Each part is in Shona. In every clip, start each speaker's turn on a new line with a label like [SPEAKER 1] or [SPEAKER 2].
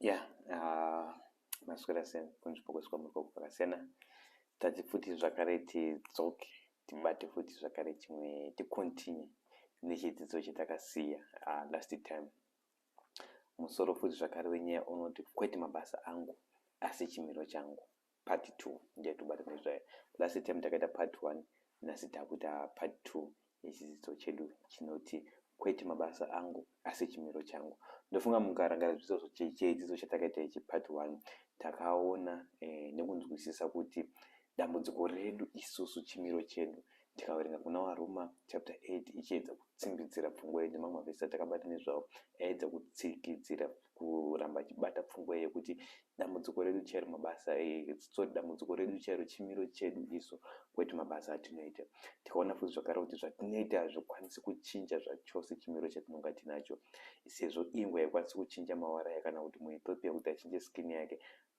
[SPEAKER 1] ya ah, maswera sei kunzvimbo kwese kwamuri kwako kwakasiyana tati futi zvakare tidzoke tibate futi zvakare chimwe ticontinue nechidzidzo chatakasiya ah, last time musoro futi zvakare wenyaya unoti kwete mabasa angu asi chimiro changu part two ndichatobatana nezvayo last time takaita part one nhasi takuita part two yechidzidzo chedu chinoti kwete mabasa angu asi chimiro changu ndofunga mukarangara zvidzidzo chedzidzo chatakaita ichi part one takaona eh, nekunzwisisa kuti dambudziko redu isusu chimiro chedu Tikaverenga kuna Varoma chapter 8 ichiedza kutsimbidzira pfungwa iyi nemamwe mavhesi atakabata nezvawo aedza kutsikidzira kuramba achibata pfungwa iyi yekuti dambudziko redu chairo mabasa sorry dambudziko redu chairo chimiro chedu isu kwete mabasa atinoita. Tikaona futi zvakare kuti zvatinoita hazvikwanisi kuchinja zvachose chimiro chatinonga tinacho sezvo ingwe haikwanisi kuchinja mawara ayo kana kuti muEthiopia kuti achinje skin yake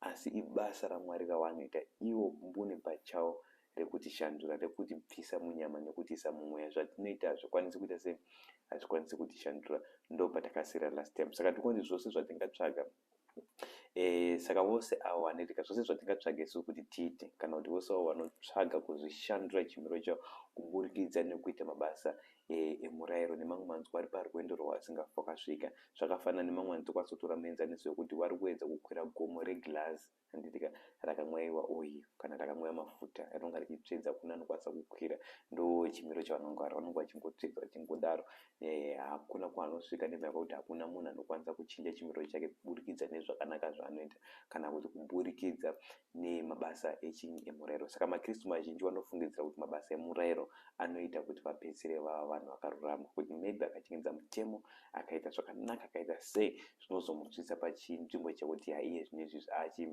[SPEAKER 1] asi ibasa raMwari ravanoita ivo mbune pachawo rekutishandura, rekutibvisa munyama nekutiisa mumweya. Zvatinoita hazvikwanisi kuita sei? Hazvikwanisi kutishandura. Ndo patakasira last time. Saka tirikunzi zvose zvatingatsvaga E, saka vose avo vanoitika zvose zvatingatsvaga isu kuti tiite kana kuti vose avo vanotsvaga kuzvishandura chimiro chavo kuburikidza nekuita mabasa e, emurayiro e, nemamwe manzwi vari parwendo rwavasingafokasvika zvakafanana nemamwe manzwi kwasotora muenzaniso wekuti vari kuedza kukwira gomo reglazi Handiti ka rakamwaiwa oil kana rakamwiwa mafuta rinonga richitsvedza kune anokwanisa kukwira ndochimiro chavanongwara vanonga vachingotsvedza vachingodaro eh hakuna kwanosvika nemhaka yekuti hakuna munhu anokwanisa kuchinja chimiro chake kuburikidza nezvakanaka zvaanoita kana kuti kuburikidza nemabasa echinyi emurairo saka makristu mazhinji vanofungidzira kuti mabasa emurairo anoita kuti vapedzisire vava vanhu vakarurama kuti maybe akachengetedza mutemo akaita zvakanaka akaita sei zvinozomutsvitsa pachinzvimbo chekuti haiye zvine izvi zvaachi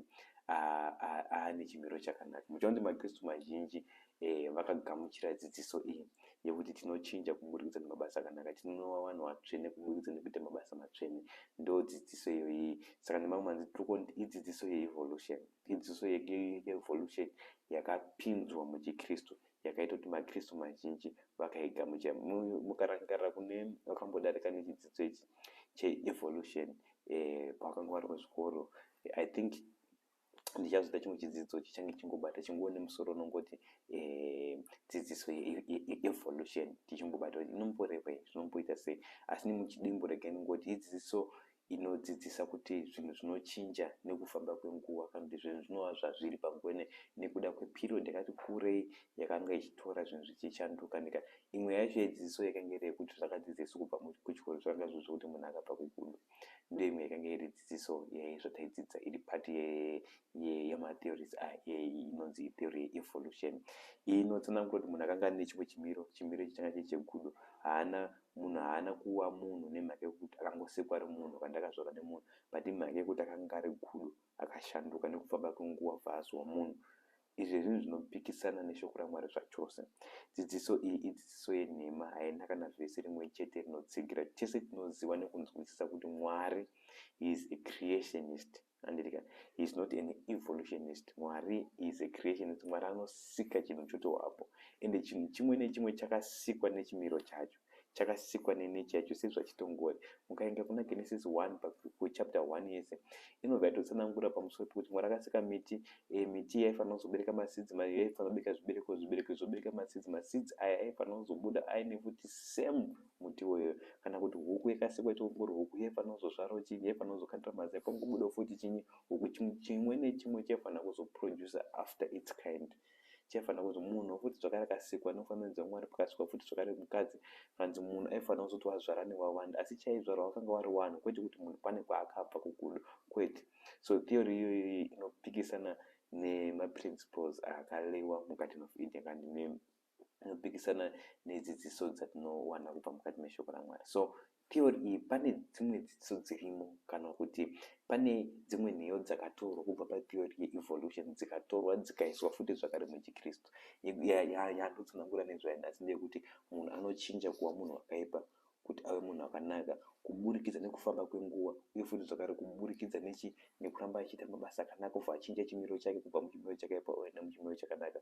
[SPEAKER 1] aane chimiro chakanaka muchiona kuti makristu mazhinji eh, vakagamuchira dzidziso iyi yekuti tinochinja kuburikidza nemabasa akanaka tinonova vanhu vatsvene kuburikidza nekuita mabasa matsvene ndo dzidziso iyoyi saka nemamwe manzi tirikunti idzidziso yeevolution idzidziso yeevolution yakapinzwa muchikristu yakaita kuti maKristu mazhinji vakaigamuchira. Mukarangarira kune wakambodarika nechidzidzo ichi cheevolution eh, pawakanga wari kuzvikoro, I think ndichazoita chimwe chidzidzo chichange chingobata chinguwo nemusoro unongoti eh, dzidziso yeevolution tichingobata kuti inomborevei zvinomboita sei asi nemuchidimbu rega inongoti idzidziso inodzidzisa kuti zvinhu zvinochinja nekufamba kwenguva kana kuti zvinhu zvinova zvazviri panguva ino nekuda kweperiod yakati kurei yakanga ichitora zvinhu zvichichanduka nika imwe yacho yedzidziso yakange iri yekuti zvakadzidziso kubva kuchikoro zvakanga zviri zvekuti munhu akabva kugudo ndiyo imwe yakange iri dzidziso yaizvataidzidza iri pati yematheories inonzi theory yeevolution iyi inotsanangura kuti munhu akanga ane chimwe chimiro chimiro ichi changa chiri chegudo haana Munhu haana kuwa munhu nemhaka yekuti akangosekwa ari munhu kana kuti akazvarwa nemunhu but imhaka yekuti akanga ari gudo akashanduka nekufamba kwenguva obva azova munhu. Izvi zvinhu zvinopikisana neShoko raMwari zvachose. Dzidziso iyi idzidziso yenhema, haina kana vhesi rimwe chete rinotsigira chese tinoziva nekunzwisisa kuti Mwari, He is a creationist. Handiti ka? He is not an evolutionist. Mwari is a creationist. Mwari anosika chinhu chotovapo. Ende chinhu chimwe nechimwe chakasikwa nechimiro chacho. Chakasikwa nenechi yacho sezvachitongori. Mukaenda kuna Genesis 1 kuchapter 1 yese inobva yatotsanangura pamusoro pekuti Mwari akasika miti. E, miti yaifanira kuzobereka masidzi, ma, yaifanira kubereka zvibereko, zvibereko zvobereka masidzi, masidzi aya aifanira kuzobuda aine futi same Muti uyu kana kuti huku yakasikwa ichingori huku yefanozozvaro chinyi yefanozokandira mazai pangobudawo futi chinyi huku chimwe chimwe nechimwe chaifanira kuzoproducer after its kind chaifanira kuzo munhu futi zvakare akasikwa nofanira dzaMwari pakasikwa futi zvakare mukadzi kanzi munhu aifanira kuzoti wazvara newawanda asi chaizvarwa wakanga wari wanhu kwete kuti munhu pane kwaakabva kukudo kwete so theory iyoyi inopikisana nemaprinciples akalewa mugarden of Eden kanti mimi anopikisana nedzidziso dzatinowana kubva mukati meshoko raMwari. So theory iyi pane dzimwe dzidziso dzirimo kana kuti pane dzimwe nheyo dzakatorwa kubva patheory yeevolution dzikatorwa dzikaiswa futi zvakare muchiKristu. Yandotsanangura nezvayo nhasi ndeyekuti munhu anochinja kuva munhu wakaipa kuti ave munhu akanaka kuburikidza nekufamba kwenguva uye futi zvakare kuburikidza nechi nekuramba achiita mabasa akanaka obva achinja chimiro chake kubva muchimiro chakaipa oenda muchimiro chakanaka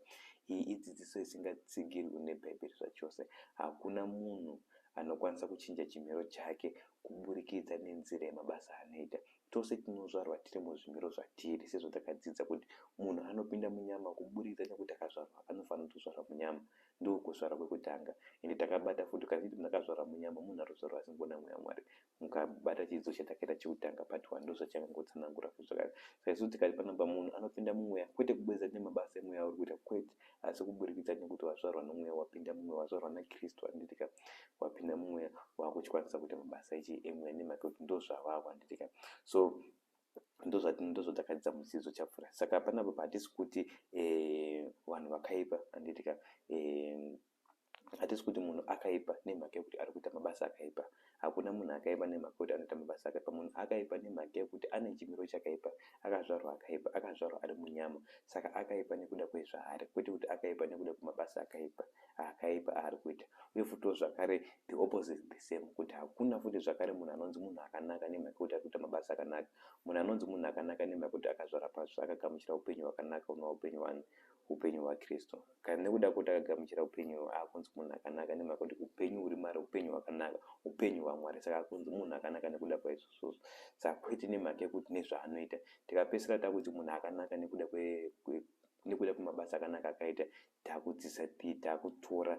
[SPEAKER 1] iyi idzidziso isingatsigirwi nebhaibheri zvachose hakuna munhu anokwanisa kuchinja chimiro chake kuburikidza nenzira yemabasa anoita tose tinozvarwa tiri muzvimiro zvatiri sezvatakadzidza kuti munhu anopinda munyama kuburikidza nekuti akazvarwa anofanira kutozvarwa munyama Ndoo kuzvarwa kwekutanga ende takabata futi kana tichiti munhu akazvarwa munyama munhu arikuzvarwa asingona mweya waMwari mukabata chidzidzo chatakaita chekutanga part one ndozvachakangotsanangura futi zvakare saka isu tikati panobva munhu anopinda mumweya kwete kubudikidza nemabasa emweya auri kuita kwete asi kuburikidza nekuti wazvarwa nomweya wapinda mumweya wazvarwa naKristu handitika wapinda mumweya wakuchikwanisa kuita mabasa echi emweya nemhaka yekuti ndozvavavo handitika so ndozvatakadzidza mudzidzo chapfura saka panapa pahatisi kuti eh, vanhu vakaipa anditika eh, hatisi kuti munhu akaipa nemhaka yekuti ari kuita mabasa akaipa hakuna munhu akaipa nemhaka yekuti anoita mabasa akaipa munhu akaipa nemhaka yekuti ane chimiro chakaipa akazvarwa akaipa akazvarwa ari munyama saka akaipa nekuda kwezvaari kwete kuti akaipa nekuda kwemabasa akaipa akaipa aari kuita uye futiwo zvakare the opposite the same kuti hakuna futi zvakare munhu anonzi munhu akanaka nemhaka yekuti ari kuita mabasa akanaka. Munhu anonzi munhu akanaka nemhaka yekuti akazvara patsva akagamuchira upenyu hwakanaka hunova upenyu hwani? Upenyu hwaKristu. Kana nekuda kwekuti akagamuchira upenyu uhwu akunzi munhu akanaka nemhaka yekuti upenyu huri maari upenyu hwakanaka, upenyu hwaMwari saka akunzi munhu akanaka nekuda kwaizvozvozvo saka kwete nemhaka yekuti nezvaanoita. Tikapedzisira takuti munhu akanaka nekuda kwe, kwe nekuda kwemabasa akanaka akaita Takudzidza pi takutora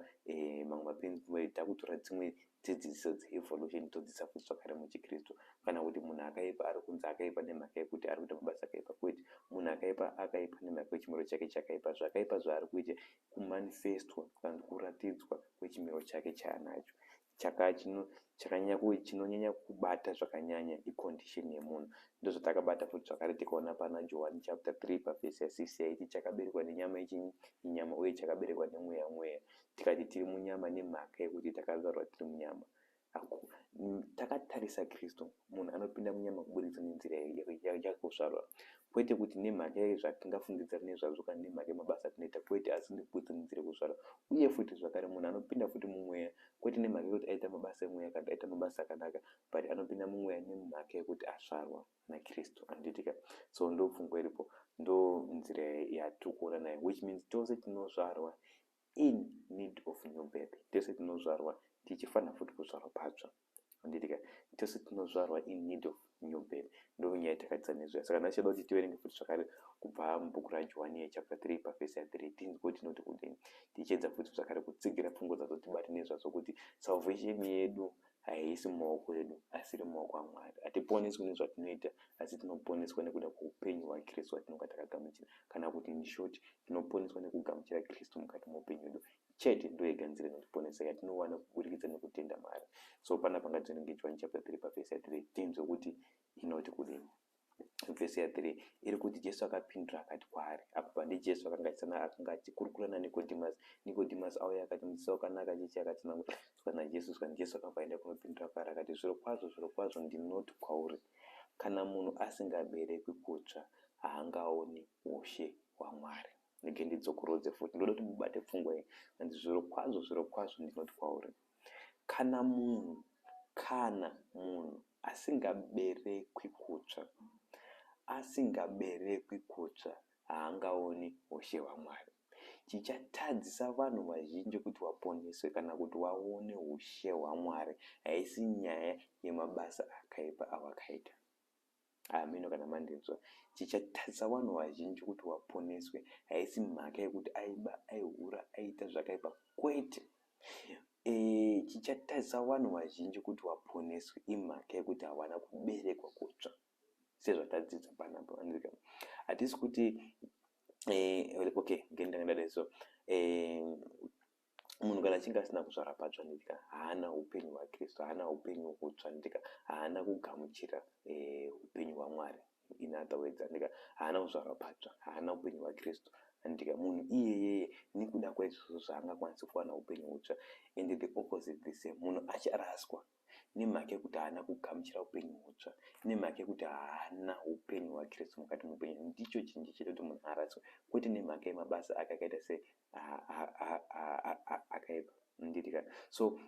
[SPEAKER 1] mamwe maprinciple edu takutora dzimwe dzidziso dzeevolution todzidza futi zvakare muchiKristu. Kana kuti munhu akaipa ari kunzi akaipa nemhaka yekuti ari kuita mabasa akaipa kwete. Munhu akaipa akaipa nemhaka yechimiro chake chakaipa. Zvakaipa zvaari kuita kumanifestwa kana kuti kuratidzwa kwechimiro chake chaanacho. chaka chino chakanyanya kuwe chinonyanya kubata zvakanyanya icondition yemunhu ndozvatakabata futi zvakare tikaona pana johani chapter 3 pavhesi ya6 yaiti chakaberekwa nenyama yechinyi inyama uye chakaberekwa nemweya mweya tikati tiri munyama nemhaka yekuti takazvarwa tiri munyama takatarisa kristu Munhu anopinda munyama kuburikidza nenzira yakakosharwa, kwete kuti nemhaka yezvatingafungidzira nezvazvo kana nemhaka yemabasa atinoita, kwete, asi nekuburikidza nenzira yekuzvarwa. Uye futi zvakare, munhu anopinda futi mumweya, kwete nemhaka yekuti aita mabasa emweya kana kuti aita mabasa akanaka, but anopinda mumweya nemhaka yekuti azvarwa naKristu. Handitika? So ndopfungwa iripo, ndonzira yatiri kuona nayo, which means tose tinozvarwa in need of new birth tese tinozvarwa tichifanira futi kuzvarwa patsva anditika tese tinozvarwa in need of new birth ndonyaya takadzidza nezvaya saka ndachida kuti tiverenge futi zvakare kubva mubhuku rajohani yechapter 3 pavhesi ya 3 tinzwe tinoti kudini tichiedza futi zvakare kutsigira pfungwa dzatotibatinezvazvo kuti salvation yedu haisi mumaoko edu asi iri mumaoko aMwari. Hatiponeswi nezvatinoita asi tinoponeswa nekuda kweupenyu hwaKristu hwatinonga takagamuchira. Kana kuti in short, tinoponeswa nekugamuchira Kristu mukati meupenyu hwedu chete. Ndoyega nzira inotiponesa yatinowana kuburikidza nekutenda maari. So panapa ngativerenge Johani chapter 3 pa verse ya 3 tinzwe kuti inoti kudini. vhesi ya 3 iri kuti Jesu akapindura akati kwaari, apa ndiJesu akanga achisana akanga achikurukura naNikodimasi. Nikodimasi auya akati, Mudzidzisi wakanaka, chechi yakatsanangura tsoka naJesu zvikanzi. Jesu akabva aenda kunopindura kwaari akati, Zvirokwazvo, zvirokwazvo ndinoti kwauri, kana munhu asingaberekwi kutsva haangaoni ushe hwaMwari. Ndege ndidzokorodze futi, ndoda kuti mubate pfungwa iyi, zvikanzi, Zvirokwazvo, zvirokwazvo ndinoti kwauri. Kana munhu kana munhu asingaberekwi kutsva, asingaberekwi kutsva haangaoni ushe hwaMwari. Chichatadzisa vanhu vazhinji kuti vaponeswe kana kuti vaone ushe hwaMwari haisi nyaya yemabasa akaipa awakaita. Hameno kana mandinzwa. Chichatadzisa vanhu vazhinji kuti vaponeswe haisi mhaka yekuti aiba, aihura, aiita zvakaipa, kwete. E, chichatadzisa vanhu vazhinji kuti vaponeswe imhaka yekuti havana kuberekwa kutsva sezvatadzidza panapa. Hatisi kuti e, okay, ngendanga ndadai so e, munhu kana achinge asina kuzvara patsva nendika haana upenyu hwakristu haana upenyu hutsva nendika haana kugamuchira eh, upenyu eh, hwamwari in other words andika haana kuzvarwa patsva haana upenyu hwakristu andika munhu iyeyeye nekuda kwaizvozvo zvaangakwanisi kuwana upenyu hutsva and the opposite the same munhu acharaswa nemhaka yekuti haana kugamuchira upenyu hutsva, nemhaka yekuti haana upenyu hwaKristu mukati meupenyu. Ndicho chinji chete kuti munhu araswe, kwete nemhaka yemabasa ake akaita sei akaipa. Mundidikan? So,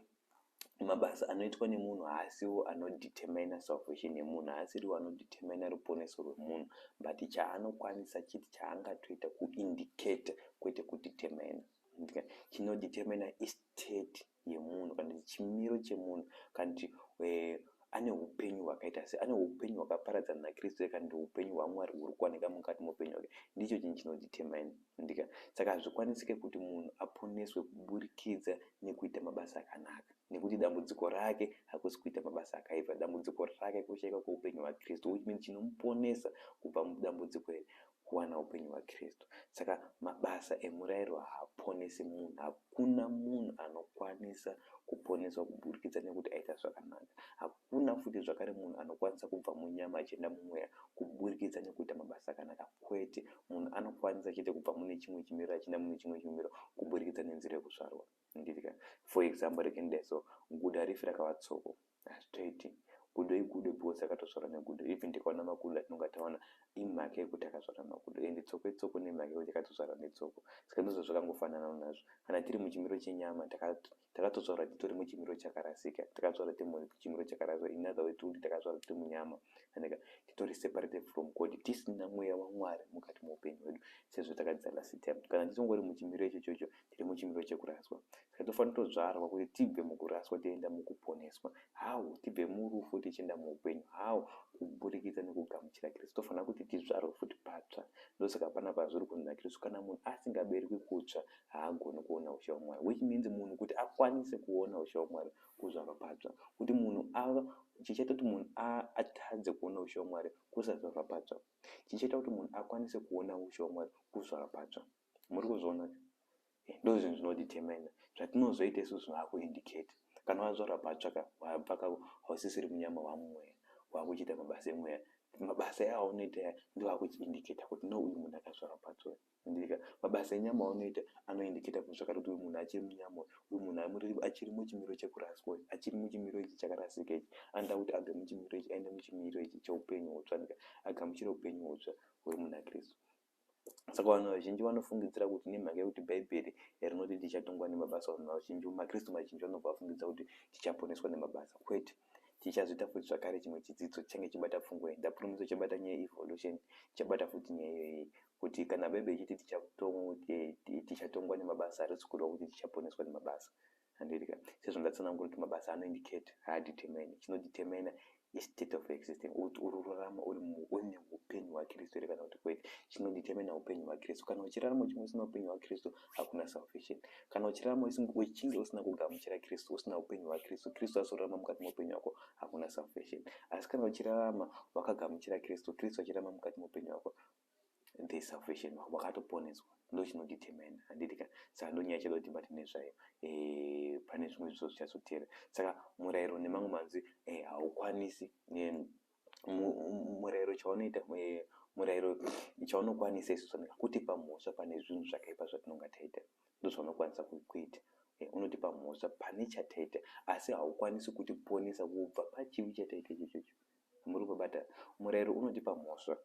[SPEAKER 1] mabasa anoitwa nemunhu haasiwo anodetermina salvation yemunhu, haasiriwo anodetermina ruponeso rwemunhu, but chaanokwanisa chete chaangatoita kuindicata kwete kudetermina. Mundidikan? Chinodetermina istate yemunhu kana kuti chimiro chemunhu kana kuti ane upenyu hwakaita sei ane upenyu hwakaparadzana nakristu here kana kuti upenyu hwamwari huri kuwanika mukati meupenyu hwake ndicho chinhu chinodhitemine ndika saka hazvikwanisike kuti munhu aponeswe kuburikidza nekuita mabasa akanaka nekuti dambudziko rake hakusi kuita mabasa akaipa dambudziko rake kushaika kweupenyu hwakristu which means chinomuponesa kubva mudambudziko here kuwana hupenyu hwaKristu. Saka mabasa emurairo haaponesi munhu. Hakuna munhu anokwanisa kuponeswa kuburikidza nekuti aita zvakanaka. Hakuna futi zvakare munhu anokwanisa kubva munyama achienda mumweya kuburikidza nekuita mabasa akanaka. Kwete. Munhu anokwanisa chete kubva mune chimwe chimiriro achienda mune chimwe chimiriro kuburikidza nenzira yekuzvarwa. ndiri ka for example rege ndidai so gudo harifi rakava tsoko hazvitoiti gudo igudo because rakatozvarwa negudo even tikaona makudo atinonga taona imhaka yekuti akazvarwa makudo ende tsoko itsoko nemhaka yekuti akatozvarwa netsoko saka ndizvo zvakangofanana nazvo kana tiri muchimiro chenyama takatozvarwa titori muchimiro chakarasika takazvarwa tiri muchimiro chakarasika in other words kuti takazvarwa tiri munyama aneka titori separated from god tisina mweya wamwari mukati meupenyu hwedu sezvo takadzala sitemu kana tisongori muchimiro ichochocho tiri muchimiro chekuraswa saka tinofanira kutodzvarwa kuti tibve mukuraswa tienda mukuponeswa how tibve murufu tichienda muupenyu how kuburikidza nekugamuchira kristu tofanira kuti tidzvarwe futi patsva ndosaka pana pazviri kunzi nakristu kana munhu asingaberekwi kutsva haagoni kuona ushe wamwari which means munhu kuti akwanise kuona ushe wamwari kuzvarwa patsva kuti munhu ava chichaita kuti munhu atadze kuona ushe wamwari kusazvarwa patsva chichaita kuti munhu akwanise kuona ushe wamwari kuzvarwa patsva Muri kuzviona izvi? Eh, ndozvinhu zvinodetermina zvatinozoita isu zvaakuindicate. Kana wazvarwa patsva ka, wabva ka, hausisiri munyama waamumweya, waakuchiita mabasa emweya. Mabasa aunoita aya ndiwo akuchiindicata kuti no uyu munhu akazvarwa patsva uyu. Ndika, mabasa enyama aunoita anoindicata kuti zvakare kuti uyu munhu achiri munyama uyu, uyu munhu amuri, achiri muchimiro chekuraswa uyu, achiri muchimiro ichi chakarasika ichi, anoda kuti abve muchimiro ichi aende muchimiro ichi cheupenyu hutsva, ndika, agamuchire upenyu hutsva huri muna Kristu. Saka vanhu vazhinji vanofungidzira kuti nemhaka yekuti Bhaibheri rinoti tichatongwa nemabasa, vanhu vazhinji, maKristu mazhinji vanobva vafungidza kuti tichaponeswa nemabasa. Kwete. Tichazoita futi zvakare chimwe chidzidzo chichange chibata pfungwa iyi. Ndapurumidza chabata nyaya yeevolution, chabata futi nyaya iyoyi kuti kana Bhaibheri ichiti tichatongwa nemabasa, harisi kureva kuti tichaponeswa nemabasa. Handidya. Sezvo ndatsanangura kuti mabasa ano indicate, haadetermine. Chinodetermina i state of existing, kuti uri kurarama uri mu, une hupenyu hwaKristu here kana kuti kwete. Chinodetermina hupenyu hwaKristu. Kana uchirarama uchinge usina hupenyu hwaKristu, hakuna salvation. Kana uchirarama usinge, uchinge usina kugamuchira Kristu, usina hupenyu hwaKristu, Kristu azorarama mukati meupenyu hwako, hakuna salvation. Asi kana uchirarama wakagamuchira Kristu, Kristu achirarama mukati meupenyu hwako, the salvation wako wakatoponeswa ndochinodetermine handiti ka saka ndonyaya chada kuti bate nezvayo eh, pane zvimwe zviso zvichazotera saka murayiro nemamwe manzwi eh, haukwanisi eh, murayiro chaunoita eh, murayiro chaunokwanisa isu zvanika kutipa mhosva pane zvinhu zvakaipa zvatinonga taita ndozvaunokwanisa kuita eh, unotipa mhosva pane chataita asi haukwanisi kutiponesa kubva pachivi chataita ichochocho muri kubata murayiro unotipa mhosva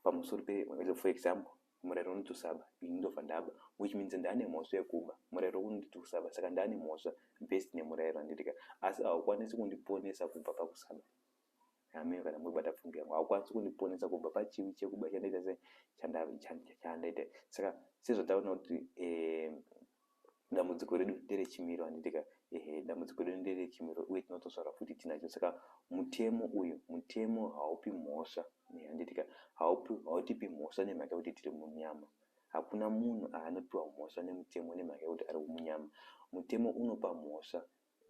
[SPEAKER 1] Pamusoro pe for example murero unotusaba ini ndobva ndaba which means ndane mhosva yekuba murero unotusaba saka ndane mhosva based nemurero andirika asi haukwanisi kundiponesa kubva pakusaba hameno kana muri kubata pfungwa yangu haukwanisi kundiponesa kubva pachivi chekuba chandaita sei chandaita saka sezvataona kuti eh, dambudziko redu nderechimiro handitika ehe dambudziko redu nderechimiro uye tinotosvara futi tinacho saka mutemo uyu mutemo haupi mhosva handitika haupi hautipi mhosva nemhaka yekuti tiri munyama hakuna munhu aanopiwa mhosva nemutemo nemhaka yekuti ari munyama mutemo unopa mhosva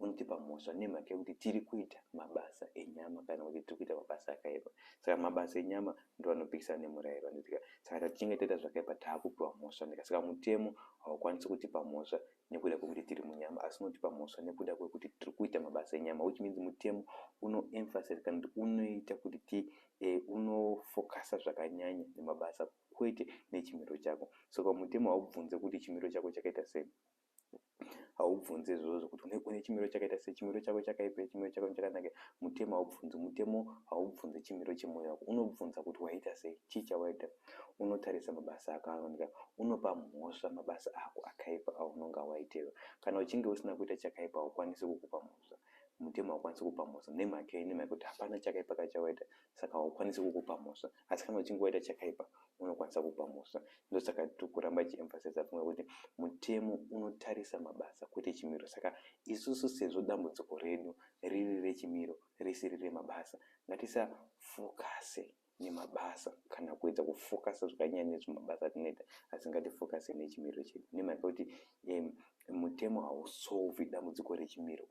[SPEAKER 1] unotipa mhosva nemhaka yekuti tiri kuita mabasa enyama kana kuti tiri kuita mabasa akaipa saka mabasa enyama ndo anopikisana nemurayiro anditika saka tatichinge taita zvakaipa taakupiwa mhosva ndika saka mutemo haukwanisi kutipa mhosva nekuda kwekuti tiri munyama asi unotipa mhosva nekuda kwekuti tiri kuita mabasa enyama which means mutemo unoemphasize kana kuti unoita kuti ti eh, unofokasa zvakanyanya nemabasa kwete nechimiro chako saka mutemo haubvunze kuti chimiro chako chakaita sei haubvunze izvozvo kuti une chimiro chakaita sei chimiro chako chakaipa chimiro chako chakanaka mutemo haubvunzi mutemo haubvunze chimiro chemwoyo wako unobvunza kuti waita sei chii chawaita unotarisa mabasa ako anooneka unopa mhosva mabasa ako akaipa aunonga waitirwa kana uchinge usina kuita chakaipa haukwanisi kukupa mhosva mutemo haukwanisi kupa mhosva nemhaka yei nemhaka yekuti hapana chakaipa kachawaita saka haukwanisi kukupa mhosva asi kana uchinge waita chakaipa unokwanisa kupa mhosva ndosaka tiri kuramba ichiemphasiza pfungwa kuti mutemo unotarisa mabasa kwete chimiro saka isusu sezvo dambudziko redu riri rechimiro risiri remabasa ngatisafokase nemabasa kana kuedza kufokasa zvakanyanya nezvimabasa atinoita asi ngatifokase nechimiro chedu nemhaka yekuti um, Mutemo hausolvi dambudziko rechimiro.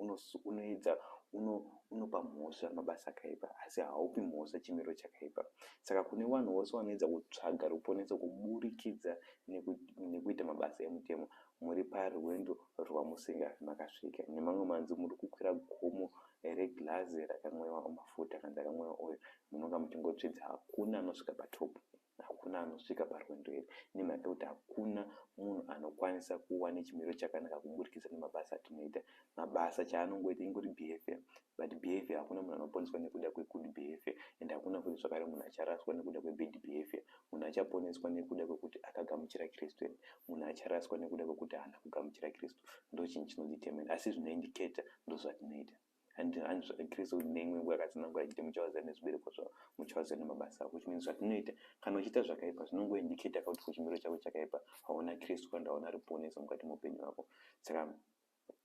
[SPEAKER 1] Unoedza, uno, unopa mhosva mabasa akaipa, asi haupi mhosva chimiro chakaipa. Saka kune vanhu vose vanoedza kutsvaga ruponeso kuburikidza neku, nekuita mabasa emutemo, muri parwendo rwamusingafi makasvika. Nemamwe manzwi, muri kukwira gomo reglazi rakamwewa mafuta kana rakamwewa oil, munonga muchingotsvedza. Hakuna anosvika patopu. Hakuna anosvika parwendo iri nemhaka yekuti hakuna munhu anokwanisa kuva nechimiro chakanaka kuburikidza nemabasa atinoita. Mabasa chaanongoita ingori behaviour but behaviour hakuna munhu anoponeswa nekuda kwegood behaviour and hakuna futi zvakare munhu acharaswa nekuda kwebad behaviour. Munhu achaponeswa nekuda kwekuti akagamuchira Kristu and munhu acharaswa nekuda kwekuti haana kugamuchira Kristu. Ndochinhu chinodetermine asi zvinoindicator ndozvatinoita. and hanzi zvakakirisa kuti neimwe nguva yakatsanangura achiti muchawaza nezvibereko zvavo muchawaza nemabasa avo which means zvatinoita kana uchiita zvakaipa zvinongoindicata ka kuti kuchimiro chako chakaipa hauna kristu kana hauna ruponeso mukati meupenyu hwako saka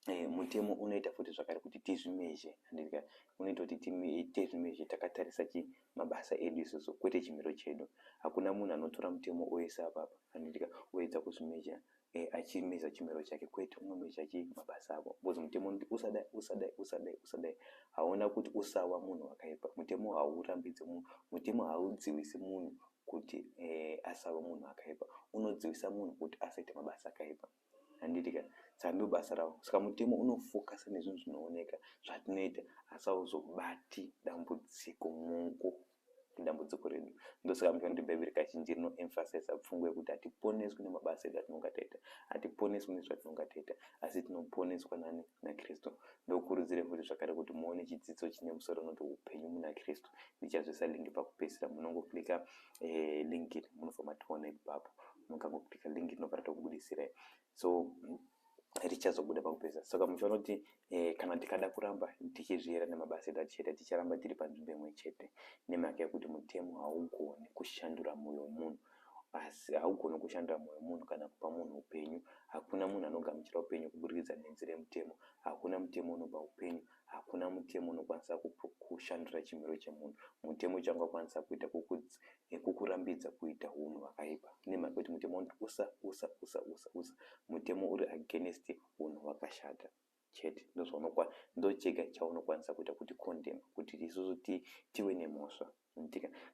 [SPEAKER 1] eh, mutemo unoita futi zvakare kuti tizvimezhe handika unoita kuti tizvimezhe takatarisa chi mabasa edu isusu kwete chimiro chedu hakuna munhu anotora mutemo oisa apapa handika oedza kuzvimezha Eeh achimisa chimiro chake kwete unomisa chii mabasa ako because mutemo unoti usadai usadai usadai usadai hauna kuti usawa munhu wakaipa mutemo haurambidze munhu mutemo haudziwisi munhu kuti eeh asawe munhu akaipa unodziwisa munhu kuti asaite mabasa akaipa handiti ka saka ndobasa ravo saka mutemo unofokasa nezvinhu zvinooneka zvatinoita asi hauzobati dambudziko muko dambudziko redu ndosaka muchiona kuti bhaibheri kazhinji rinoemfasiza pfungwa yekuti hatiponeswi nemabasa edu atinonga taita hatiponeswi nezvatinonga taita asi tinoponeswa nani nakristu ndokurudzire futi zvakare kuti muone chidzidzo chine musoro unoti upenyu muna kristu ndichazvisa lingi pakupedzisira munongoklika eh, lingi iri munobva mationa ipapo mukangoklika lingi iri nobva ratokubudisirai so richazobuda pakupedza saka mucho anoti eh, kana tikada kuramba tichizviera nemabasa edu achete ticharamba tiri panzvimbo imwe chete nemhaka yekuti mutemo haugoni kushandura mwoyo wemunhu asi haugoni kushandura mwoyo wemunhu kana kupa munhu upenyu hakuna munhu anogamuchira upenyu kuburikidza nenzira yemutemo hakuna mutemo unopa upenyu Hakuna mutemo unokwanisa kushandura chimiro chemunhu. Mutemo chaungakwanisa kuita kukurambidza kuita hunhu hwakaipa. Nemhaka yekuti mutemo unoti usa, usa, usa, usa, usa. Mutemo uri against hunhu hwakashata chete. Ndochega chaunokwanisa kuita kuti condemn kuti isusu tive nemhosva.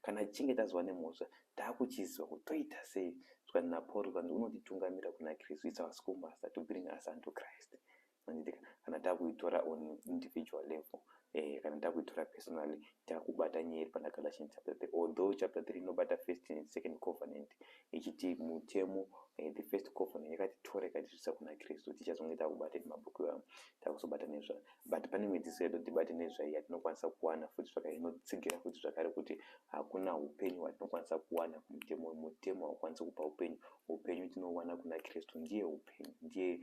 [SPEAKER 1] Kana tichinge tazova nemhosva takuchiziva kuti toita sei. Zvikanzi naPaul zvikanzi unotitungamira kuna Kristu. It's our schoolmaster to bring us unto Christ. Manditika kana takuitora on individual level eh, kana takuitora personally takubata nyaya iri pana Galatians chapter 3 although chapter 3 inobata first and second covenant ichiti mutemo eh, the first covenant yakatitora ikatisvitsa kuna Kristu tichazonge takubata mabhuku ivamo takuzobata nezvayo but pane mwedziso yedu tibate nezvayo yatinokwanisa kuwana futi zvakare inotsigira futi zvakare kuti hakuna upenyu hwatinokwanisa kuwana kumutemo mutemo haukwanisi kupa upenyu upenyu tinowana kuna Kristu ndiye upenyu ndiye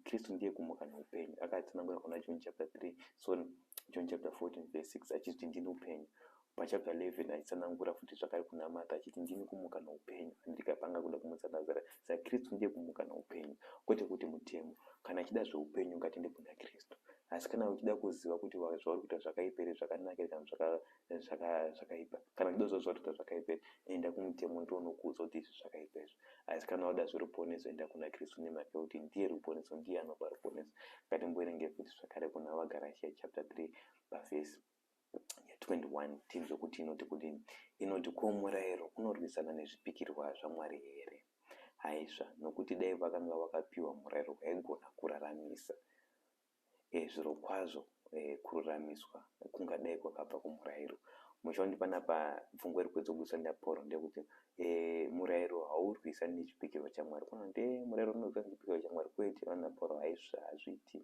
[SPEAKER 1] Kristu ndiye kumuka neupenyu. Akatsanangura kuna John chapter 3, sorry, John chapter 14 verse 6 achiti ndini upenyu. Pachapter 11 aitsanangura futi zvakare kuna Martha achiti ndini kumuka neupenyu. Andika panga kuda kumutsa Lazaro. Saka Kristu ndiye kumuka neupenyu. Kwete kuti mutemo. Kana achida zveupenyu ngatende kuna Kristu. Asi kana uchida kuziva kuti zvauri kuita zvakaipa here, zvakanaka here kana zvakaipa kana uchida kuziva zvawatoita zvakaipa enda kumutemo ndiwo unokuudza kuti izvi zvakaipa izvi asi kana wada zveruponeso enda kuna kristu nemhaka yekuti ndiye ruponeso ndiye anopa ruponeso ngatimboerenge futi zvakare kuna vagarashiya chapter 3 pavhesi 21 tinzwe kuti inoti kudini inoti ko murayiro unorwisana nezvipikirwa zvamwari here haisva nokuti dai vakanga vakapiwa murayiro waigona kuraramisa zvirokwazvo kururamiswa kungadai kwakabva kumurairo. Muchiondi panapa pfungwa iri kuedzobudiswa naPauro ndekuti murairo haurwisa nechipikirwa chaMwari. Kuno nde murairo unorwisa nechipikirwa chaMwari kwete vana Pauro haizvi hazviiti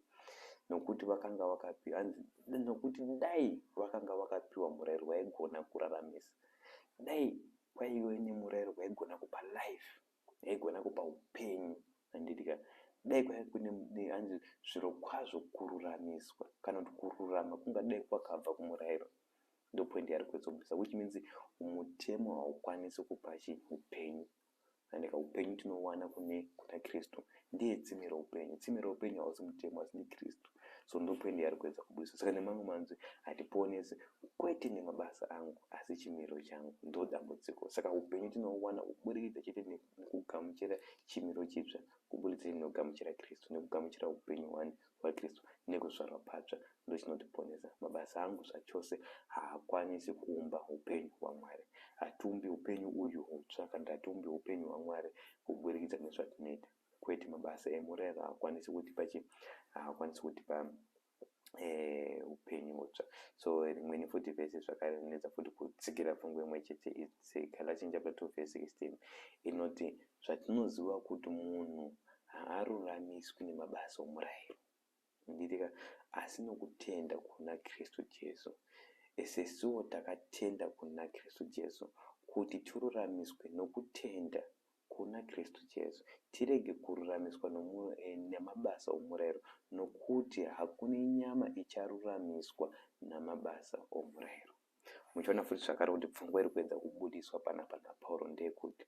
[SPEAKER 1] nokuti vakanga vakapi hanzi nokuti dai vakanga vakapiwa murairo waigona kuraramisa dai kwaive nemurairo waigona kupa life kuti haigona kupa upenyu handiti ka dai kwaive kune hanzi zvirokwazvo kururamiswa kana kuti kururama kungadai kwakabva kumurayiro ndopoindi yaari kuetsobvisa which means mutemo haukwanisi kupa chii upenyu handika upenyu tinowana kune kuna kristu ndiye tsime roupenyu tsime roupenyu hausi mutemo asi ndikristu so ndopoendi yaari kuedza kubudisa saka nemamwe manzwi hatiponesi kwete nemabasa angu asi chimiro changu ndo dambudziko saka upenyu tinohuwana kuburikidza chete nekugamuchira chimiro chitsva kuburikidza nekugamuchira kristu nekugamuchira upenyu hwani vaKristu nekuzvarwa patsva ndochinotiponesa. Mabasa angu zvachose haakwanisi kuumba hupenyu hwaMwari. Hatiumbi hupenyu uyu hutsva kana tatiumbi hupenyu hwaMwari kuburikidza nezvatinoita. Kwete, mabasa emurayiro haakwanisi kutipa chii? Haakwanisi kutipa hupenyu hutsva. So rimweni futi vhesi zvakare rinetsa futi kutsigira pfungwa imwe chete. Its Galatians chapter 2 verse 16 inoti Zvatinoziva kuti munhu haaruramiswi nemabasa omurairo, handirika, asi nokutenda kuna Kristu Jesu. Isesuwo takatenda kuna Kristu Jesu, kuti tiruramiswe nokutenda kuna Kristu Jesu, tirege kururamiswa namabasa omurairo, nokuti hakune nyama icharuramiswa namabasa omurairo. Muchaona futi zvakare kuti pfungwa iri kuedza kubudiswa panapa naPauro ndeyekuti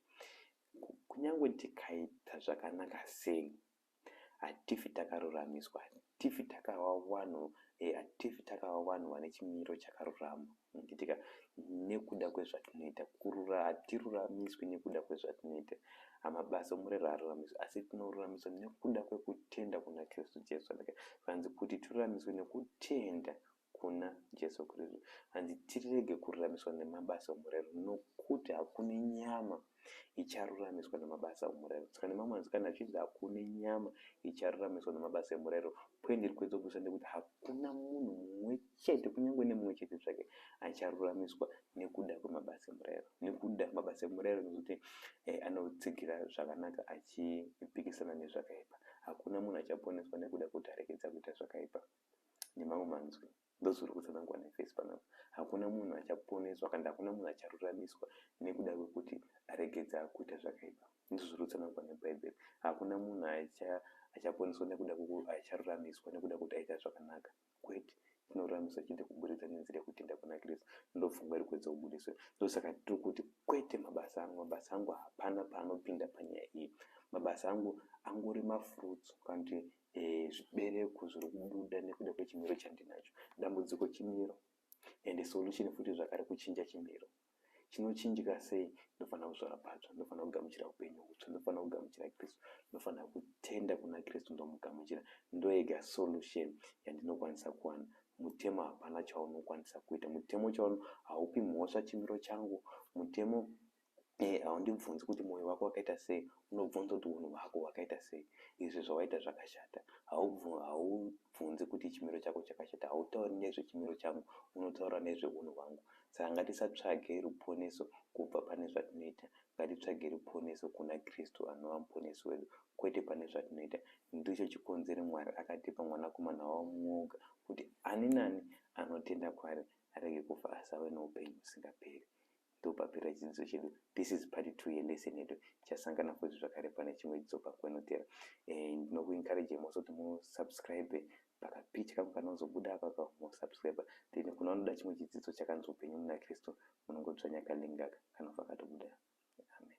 [SPEAKER 1] kunyange tikaita zvakanaka sei, hatifi takaruramiswa, hatifi takava vanhu eh, hatifi takava vanhu vane chimiro chakarurama nditika nekuda kwezvatinoita kurura hatiruramiswi nekuda kwezvatinoita amabasa omurero haruramiswi asi tinoruramiswa nekuda kwekutenda kuna kristu jesu zvanzi kuti tiruramiswe nekutenda kuna Jesu Kristu. Hanzi tirege kururamiswa nemabasa omurero nokuti hakune nyama icharuramiswa nemabasa omurero. Tsika nemamwe anzi kana zvichinzi hakune nyama icharuramiswa nemabasa emurero pwendi iri kuedzwa kuisa ndekuti hakuna munhu mumwe chete kunyange nemumwe chete zvake acharuramiswa nekuda kwemabasa emurero. Nekuda mabasa emurero nekuti eh, anotsigira zvakanaka achipikisana nezvakaipa. Hakuna munhu achaponeswa nekuda kuti arekedza kuita zvakaipa. nemamwe manzwi ndozviri kutsanangwa naFirst panapa. Hakuna munhu achaponeswa kana kuti hakuna munhu acharuramiswa nekuda kwekuti aregedza kuita zvakaipa. Ndizvo zviri kutsanangwa neBhaibheri. Hakuna munhu acha, achaponeswa nekuda kwekuti acharuramiswa nekuda kwekuti aita zvakanaka. Kwete. Tinoruramiswa chete kuburikidza nenzira yekutenda kuna Kristu. Ndopfungwa iri kuedza kubudiswa. Ndosaka tiri kuti kwete mabasa angu. Mabasa angu hapana paanopinda panyaya iyi. Mabasa angu angori mafruits kana kuti eh, zvibereko zviri kubuda nekuda kwechimiro chandinacho dambudziko chimiro and solution futi zvakare kuchinja chimiro chinochinjika sei ndofanira kuzvara patsva ndofanira kugamuchira upenyu hutsva ndofanira kugamuchira kristu ndofanira kutenda kuna kristu ndomugamuchira ndoega solution yandinokwanisa kuwana mutemo hapana chaunokwanisa kuita mutemo chauno haupi mhosva chimiro changu mutemo Iye haundibvunzi kuti moyo wako wakaita sei, unobvunza kuti hunhu hwako hwakaita sei. Izvi zvawaita zvakashata. Haubvunzi kuti chimiro chako chakashata. Hautauri nezve chimiro changu, unotaura nezve hunhu hwangu. Saka ngatisatsvage ruponeso kubva pane zvatinoita. Ngatitsvage ruponeso kuna Kristu anova Muponesi wedu, kwete pane zvatinoita. Ndicho chikonzero Mwari akatipa Mwanakomana wavo mumwe oga kuti ani nani anotenda kwaari arege kufa asi ave noupenyu husingaperi. Ndopapera chidzidzo chedu. This is part two yelesson yedu. Tichasangana futi zvakare pane chimwe chidzidzo pakwenotera. Eh, ndinokuencourage mose kuti musubscribe pakapitya kangu kanozobuda apapa musubscribe. Then kune vanoda chimwe chidzidzo chakanzi upenyu muna Kristu munongodzvanya kalink aka kanobva katobuda. Amen.